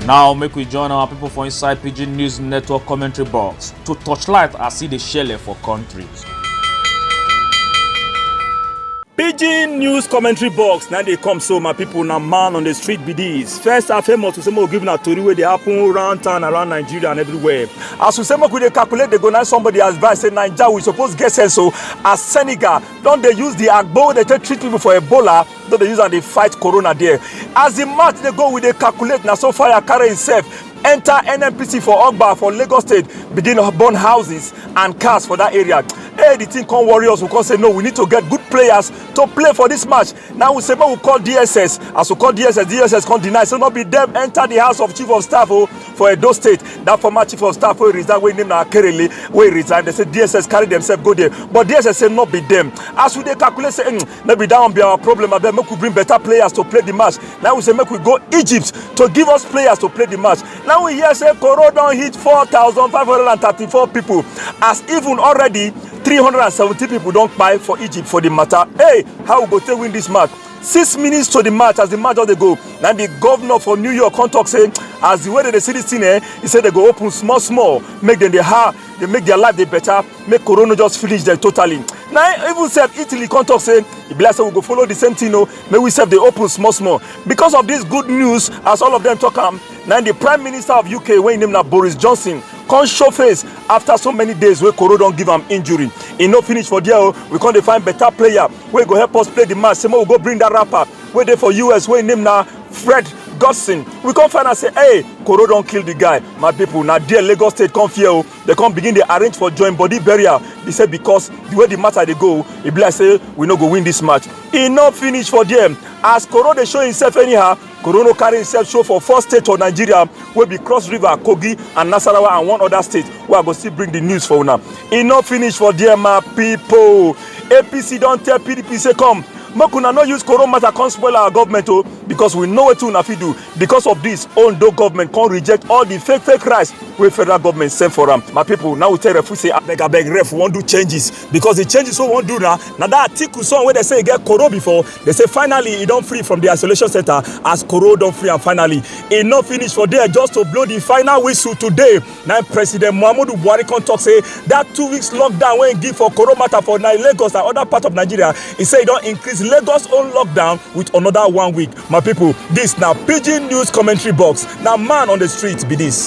now make we join our people for inside pidgin news network commentary box to torchlight as e dey shele for country. pidgin news commentary box na dey come so my people na man on the street be this first and foremost we say make we give una tori wey dey happen round town around nigeria and everywhere as we say make we dey calculate dey go na somebody advice say naija we suppose get sense o as senegal don dey use the agbo wey dey take treat people for ebola no dey use am dey fight corona there as the match dey go we dey calculate na so fire carry himself enter nnpc for ogba for lagos state begin burn houses and cars for that area hey the thing come worry us we come say no we need to get good players to play for this match now we say make we call dss as we call dss dss come deny say no be them enter the house of chief of staff o oh, for edo state that former chief of staff wey resign wey name na akerele wey resign they say dss carry themselves go there but dss say no be them as we dey calculate say mm, no be that one be our problem abeg make we bring better players to play the match now we say make we go egypt to give us players to play the match now we hear say koro don hit four thousand five hundred and thirty-four people as even already three hundred and seventy people don kpai for egypt for the matter hey how we go take win this match six minutes to the match as the match don dey go na the governor for new york come talk say as the way dem dey see this thing eh he say they go open small small make dem dey hard dey make their life dey better make corona just finish dem totally na even sef italy come talk say e be like say we go follow the same thing o make we sef dey open small small because of this good news as all of them talk am na the prime minister of uk wey im name na boris johnson come show face after so many days wey koro don give am injury e no finish for there o we come dey find better player wey go help us play the match say make we go bring that rapper wey dey for us wey im name na fred godson we come find out say hey koro don kill the guy my people na there lagos state come fear o They come begin dey arrange for join body burial. They say because the way the matter dey go, e be like say we no go win this match. E no finish for there. As Koro dey show himself anyhow, Koro no carry himself show for four states for Nigeria wey be Cross River, Kogi and Nasarawa and one other state wey I go still bring the news for una. E no finish for there my people. APC don tell PDP say come make una no use Koro matter come spoil our government o because we know wetin una fit do. because of this ondo government come reject all the fake fake rice wey federal government send for am my people now we tell referee say abeg abeg ref wan do changes because the changes wey we wan do na na that atiku son wey dey say e get koro before dey say finally e don free from the isolation center as koro don free am finally e no finish for there just to blow the final whistle today na president muhammadu buhari come talk say that two weeks lockdown wey e give for koro matter for na lagos and other parts of nigeria e say e don increase lagos own lockdown with another one week My people, this na pidgin news commentary box. Na man on the street be this.